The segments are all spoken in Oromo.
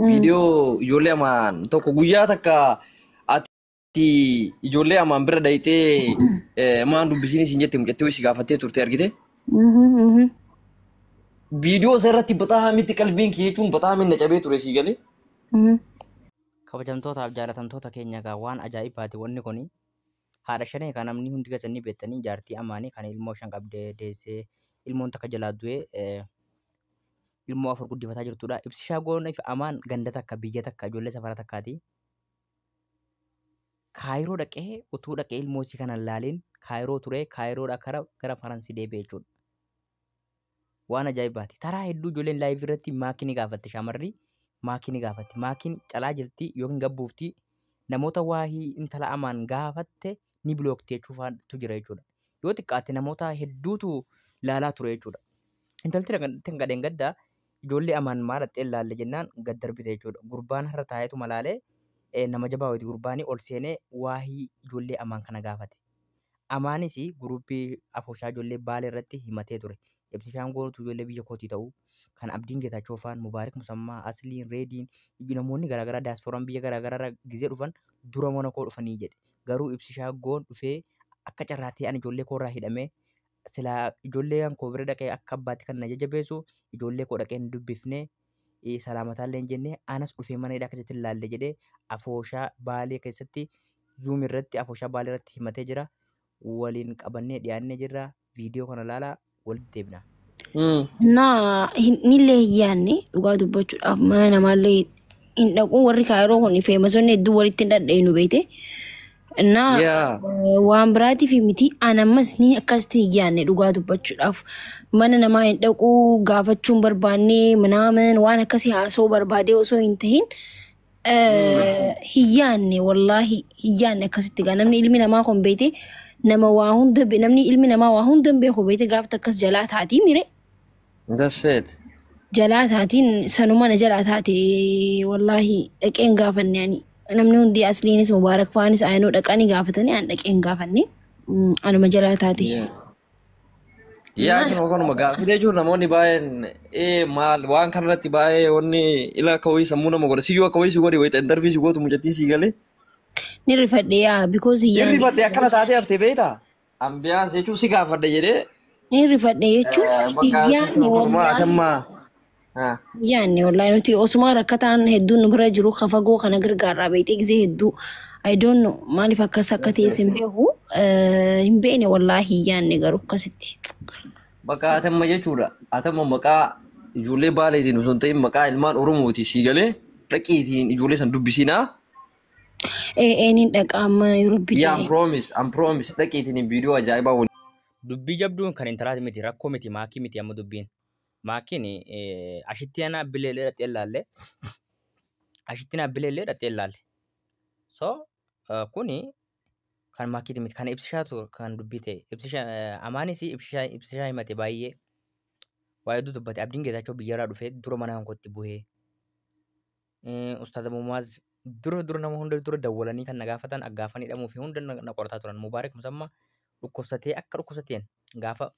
Viidiyoo ijoollee amaan tokko guyyaa takka ati ijoollee amaan bira dhayxee eh, maan dubbisiin isin jette mucattii wayii si gaafattee turte argite. Viidiyoo isa irratti baxaa mitti qalbiin kee jechuun baxaa minna cabee ture sii galee. kabajamtootaaf jaalatamtoota keenya egaa waan ajaa'ibaati wanni kun Haadha shanee ka namni hundi keessanii beettanii jaartii amaanii kan ilmoo shan qabdee deessee ilmoon takka jalaa du'ee eh, ilmoo afur guddifataa jirtudha. Ibsi shaagoon fi amaan ganda takka biyya takka ijoollee safara takkaati. Kaayiroo dhaqee utuu dhaqee ilmoo isii kana hin laaliin kaayiroo turee kaayiroodha kara gara Faransi deebi'e jechuudha. waan ajaa'ibaati. Taraa hedduu ijoolleen laayivii irratti maakii ni gaafatti shaamarri maakii ni gaafatti. Maakiin calaa jirti yookiin gabbuufti namoota waahii intala amaan gaafatte ni bilookti jechuufaatu jira jechuudha. Yoo xiqqaate namoota hedduutu laalaa ture jechuudha. Intalti kan gadheen gadda ijoollee amaan maa dhaqxee laalle jennaan gad darbite jechuudha. Gurbaan har'a taa'eetu malaalee nama jabaa wayiiti gurbaanii ol seenee waahii ijoollee amaan kana gaafate. Amaanis guruuppii afooshaa ijoollee Baalee irratti himatee ture. Ibsishaan gootu ijoollee biyya kootii ta'uu kan Abdiin Geetaachoo faan, Mubaarik Musammaa, Asliin, Reediin namoonni garaagaraa daasfooraan biyya garaagaraa gizee dhufan dura mana koo dhufanii jedhe. Garuu ibsishaa goon dhufee akka carraatee ani ijoollee koo irraa hidhamee silaa ijoollee kan koo bira dhaqee akka abbaatti kan na jajjabeessu ijoollee koo dhaqee hin dubbifnee eh, salaamataallee hin jenne anas dhufee mana hidhaa keessatti laalle jedhee afooshaa baalee keessatti zuum irratti afooshaa baalee irratti himatee jira waliin qabannee dhiyaannee jirra viidiyoo kana laalaa walitti deebina. Mm. Na hin- nillee hin yaadne dhugaa dubbachuudhaaf mana namaallee hin dhaqu warri kaayiroo kun feemasonni hedduu walitti hin dhadha'inu beekte Innaa Yaa. eh, waan biraatiif miti an ammas ni akkasitti hin yaadne dhugaa dubbachuudhaaf mana namaa hin dhaqu gaafachuu hin barbaanne minaamin waan akkasii haasoo barbaadee osoo hin tahin eh, hin yaadne wallaahi hin yaadne akkasitti gaa namni ilmi namaa kun beete nama waa hunda be- namni ilmi namaa waa hunda hin beeku beete gaafta akkas jalaa taatii mire That's it. jalaa taatiin sanuma na jalaa taate wallaahi dhaqeen gaafanne ani namni hundi asliinis mubaarak faanis ayinoo dhaqanii gaafatanii an dhaqeen gaafanne Mm, anuma jalaa taate Yeah. Yaa kun kanuma gaaffii jechuun namoonni baay'een ee maal waan kanarratti baay'ee wanni ila akka wayii sammuu nama godha siyyuu akka wayii si godhe wayita intarvii si gootu mucattiin si galee ni rifadhe yaa because hin yaadne rifadhe akkana taatee haftee beektaa Ambiyaan jechuun si gaafadha jedhee Ni rifadhe jechuun eh, bakka hin yaadne tokko tokko wallaahi. atamma. Ah. Hin yaadne wallaahi nuti osuma rakkataan hedduun nu bira jiru ka fagoo kana gargaarraa beektee gisee hedduu I don't know maaliif akkas akka Yes, ta'es yes. hin beeku Eh, hin beekne wallaahi hin yaadne garuu akkasitti. Bakka atamma jechuudha. Atamma maqaa ijoollee baaleetiin osoo hin ta'in maqaa ilmaan Oromooti sii galee dhaqiitiin ijoollee san dubbisiinaa. Ee eeniin dhaqa amma Yuurubbi Yaa jedhee. promise am promise dhaqiitiin viidiyoo ajaa'ibaa wal Dubbii jabduun kan intalaati miti rakkoo miti maakii miti amma dubbiin. Maakiin ashitti ana abbilee illee dhaxxee laalle. Ashitti ana abbilee illee dhaxxee laalle. So eh, kuni kan maakiiti miti kan ibsishaatu kan dubbii ta'e. Ibsisha amaanis ibsishaa ibsishaa himate baay'ee waa hedduu dubbate abdiin geetaachoo biyyarraa dhufee dura mana hankootti bu'ee. Eh, Ustaaza Mumaaz dura dura nama hunda dura dawwalanii kan na gaafatan gaafa ni hidhamuu fi hunda na na qorataa turan. Mubaarak Musamma dhukkubsatee akka dhukkubsateen gaafa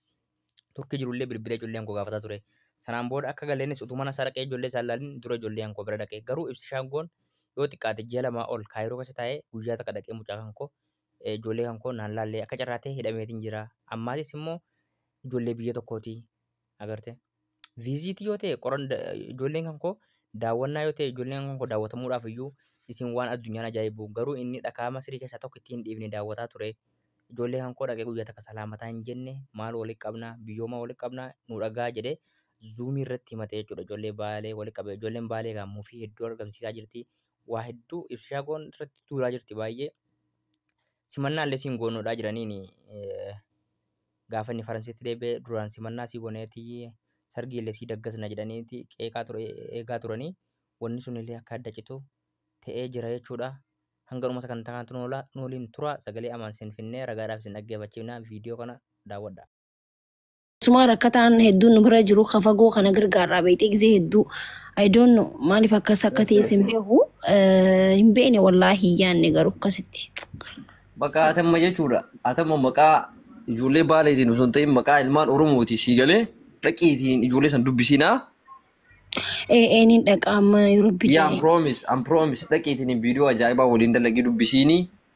turkii jirullee bilbila ijoollee hankoo gaafataa ture. Sanaan booda akka galeenis utuu mana isaa dhaqee ijoollee isaa ilaalin dura ijoollee hankoo bira dhaqe. Garuu ibsi shaangoon yoo xiqqaate ji'a lamaa ol kaayiroo keessa taa'ee guyyaa takka dhaqee mucaa kankoo eh, ijoollee kan koo naan laallee akka carraa ta'e hidhameetiin jira. Ammaatis immoo ijoollee biyya tokkooti agarte. Viiziitii yoo ta'e qoran da- ijoolleen kan koo daawwannaa yoo ta'e ijoolleen kan koo daawwatamuudhaaf iyyuu isin waan addunyaan ajaa'ibu garuu inni dhakaa Masirii keessaa tokko ittiin hin dhiifne daawwataa ture. Ijoollee kan koo dhaqee guyyaa takka salaamataa hin jenne maal walitti qabna biyyooma walitti qabna nu dhagaa jedhee zuumii irratti himatee jechuudha ijoollee baalee walitti qabee ijoolleen baalee egaa muufii hedduu argamsiisaa jirti waa hedduu ibsishaa goon irratti duulaa jirti baay'ee simannaa illee siin goonodhaa jiraniin gaafa inni faransiitti deebi'ee duraan simannaa sii goneeti sargii illee sii daggasna jedhaniiti qeeqaa ture eegaa turanii wanni sun illee akka adda citu ta'ee jira jechuudha. Hanga dhuma sagantaa kanatti nu oolaa- nu waliin turaa sagalee amaan siin finnee ragaadhaaf isin dhaggeeffachiifnaa viidiyoo kana daawwadha. Keessumaa rakkataan hedduun nu bira jiru ka fagoo kana gargaarraa beektee gisee hedduu I don't know maaliif akkas akka ta'es hin beeku Eh, hin beekne wallaahi hin yaanne garuu akkasitti. Maqaa atamma jechuudha. Atamma maqaa ijoollee baaleetiin osoo hin ta'in maqaa ilmaan Oromooti sii galee dhaqiitiin ijoollee san dubbisinaa. Ee ee niin dhaqa amma yeroo Yaa bidee. promise, am promise dhaqiitiin viidiyoo ajaa'ibaa waliin dalagii dubbisiinii.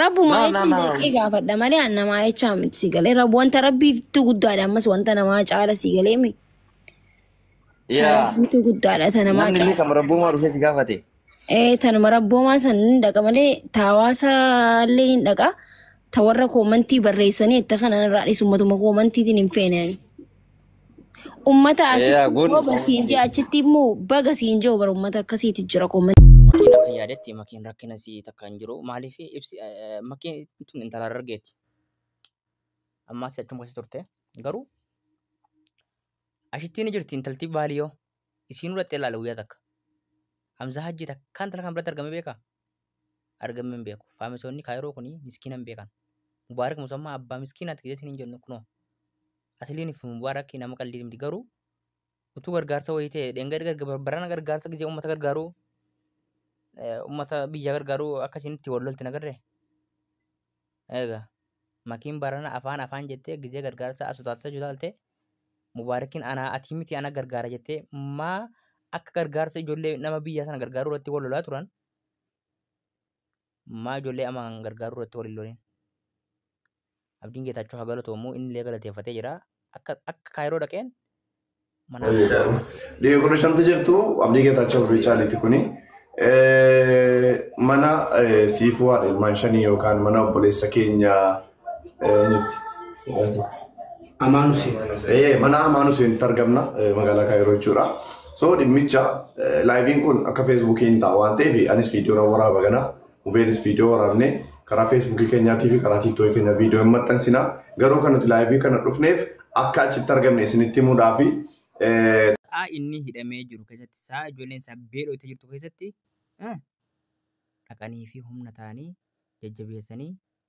Rabbumaa No, no, jechuun no. dirqii gaafadha malee an namaa jechaa miti si galee. Rabb wanta rabbiitu guddaadha ammas wanta namaa caala si galee mi. Ta Yeah. rabbiitu guddaadha ta namaa Namni illee caala. kan rabbumaa dhufee si gaafate. Ee tanuma rabboomaa san ni dhaqa malee ta hawaasaa illee ni dhaqa. Ta warra koomantii barreessanii itti kanan irraa dhiisu matuma koomantiitiin hin feene ani. Ummata Ee, asitti kun- immoo basiin jee achitti immoo baga siin jee bara ummata akkasiiti jira qoomman. Makiin akka yaadetti makiin rakkina si takka hin jiru. Maaliif ibsi eh, makiin tun intala Harargeeti. Ammaa si achuma keessa turte. Garuu ashittiin ni jirti intalti baaliyoo. Isiin hudhattee ilaala guyyaa takka. Hamzaa hajjii takkaan intala kan biratti argamee beekaa? argamee hin beeku. Faamisoonni Kaayiroo kun miskiina hin beekan. Mubaarak Musammaa abbaa miskiinaati jedhee isin hin jennu kunoo. Asiliin fi Mubaarak nama qalliiti miti garuu utuu gargaarsa wayii ta'e dheengadda garga- barana gargaarsa gisee uummata gargaaruu eh, uummata biyya gargaaruu akka isin itti wal lolti nagarre. Eega makiin barana afaan afaan jettee gizee gargaarsaa as utaaltee jutaaltee mubaarikiin anaa atii miti ana gargaara jettee maa akka gargaarsa ijoollee nama biyyaa sana gargaaruu irratti wal lolaa turan maa ijoollee amaan gargaaruu irratti wal hin lolin. Abdiin Geetaachoo haa galatoomu inni illee galateeffatee jira akka akka kaayiroo dhaqeen Dhiirri kun shanti jirtu abdii geetaachoo fi caaliiti kuni. Mana siifuu haadha ilmaan shanii yookaan mana obboleessa keenya Amaan Huseen. mana Amaan Huseenitti argamna magaalaa Kaayiroo jechuudha. So dhimmicha laayiviin kun akka feesbuukii hin ta'a waan ta'eef anis viidiyoon waraaba kana Hubeenis viidiyoo waraabnee karaa feesbuukii keenyaatii fi karaa tiiktookii keenya viidiyoo hin maxxansina. Garuu kan nuti laayivii kana dhufneef akka achitti argamne isinitti himuudhaa fi Sa'a inni hidhamee jiru keessatti, sa'a ijoolleen isaa beelooftee jirtu keessatti eh, dhaqanii fi humna ta'anii jajjabeessanii